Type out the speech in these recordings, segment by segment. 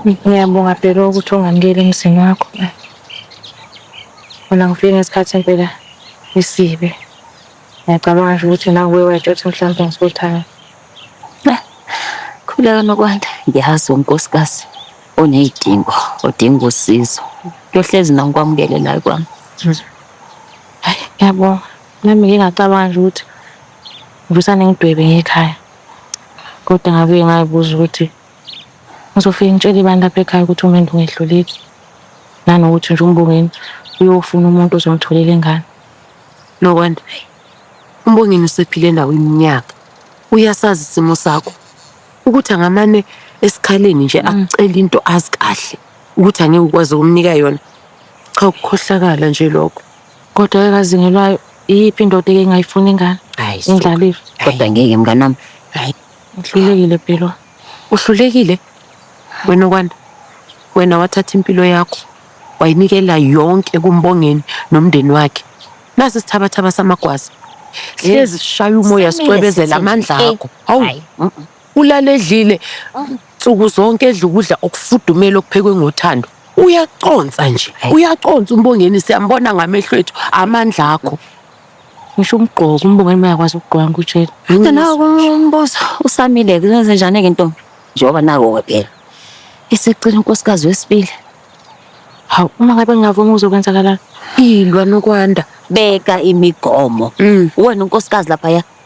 Ngiyabonga Bhelo ukuthi ungamukeli emzini wakho. Mina ngifike ngesikhathi impela isibe. Ngiyacabanga nje ukuthi nawe uye wayitshela ukuthi mhlawumbe ngisothanda. Khuleka nokwanda. Ngiyazi unkosikazi onezidingo, odinga usizo. Kuyohlezi na ngikwamukele la kwami. Hayi, ngiyabonga. Nami ngike ngacabanga nje ukuthi ngisane ngidwebe ngekhaya. Kodwa ngabuye ngayibuza ukuthi Ngizofike ngitshele ibani lapha ekhaya ukuthi umendo ungehluleki nanokuthi nje umbongeni uyofuna umuntu ozomtholela ingane Nokwanda, hayi. Umbongeni usephile nawo iminyaka. Uyasazi isimo sakho. Ukuthi angamane esikhaleni nje akucela into azi kahle ukuthi angeke ukwazi ukumnika yona. Cha ukukhohlakala nje lokho. kodwa ekazingelwayo iyiphi indoda eke ngayifuna ingane Hayi. indlalifa Kodwa ngeke mnganami. Uhlulekile Pelwa. Uhlulekile? Wena okwanda. Wena wathatha impilo yakho wayinikela yonke kumbongeni nomndeni wakhe. Nasi isithabathaba samagwaza. Hlezi sishaya umoya sicwebezela amandla akho. Hawu. Ulale edlile nsuku zonke edla ukudla okufudumele okuphekwe ngothando. Uyaconsa nje. Uyaconsa umbongeni siyambona ngamehlo ethu amandla akho. ngisho umgqoko umbongeni mayakwazi ukugqoka ngikutshela kodwa nawo umbuzo usamile kuzenze njani ke ntombi njengoba nako-ke phela isicela unkosikazi wesibili hawu uma ngabe ngingavuma uzokwenzakalani ilwa nokwanda beka imigomo wena unkosikazi laphaya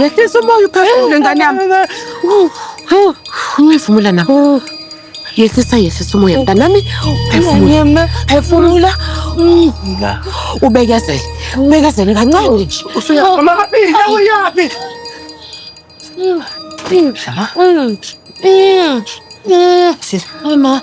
Yehlisa umoya uphefumule ngane yami. Ungivumula na? Yehlisa yehlisa umoya mntanami. Phefumula. Phefumula. Ubekezele. Ubekezele kancane nje. Usuyama kabi, uyaphi? Shama. Sisi. Mama.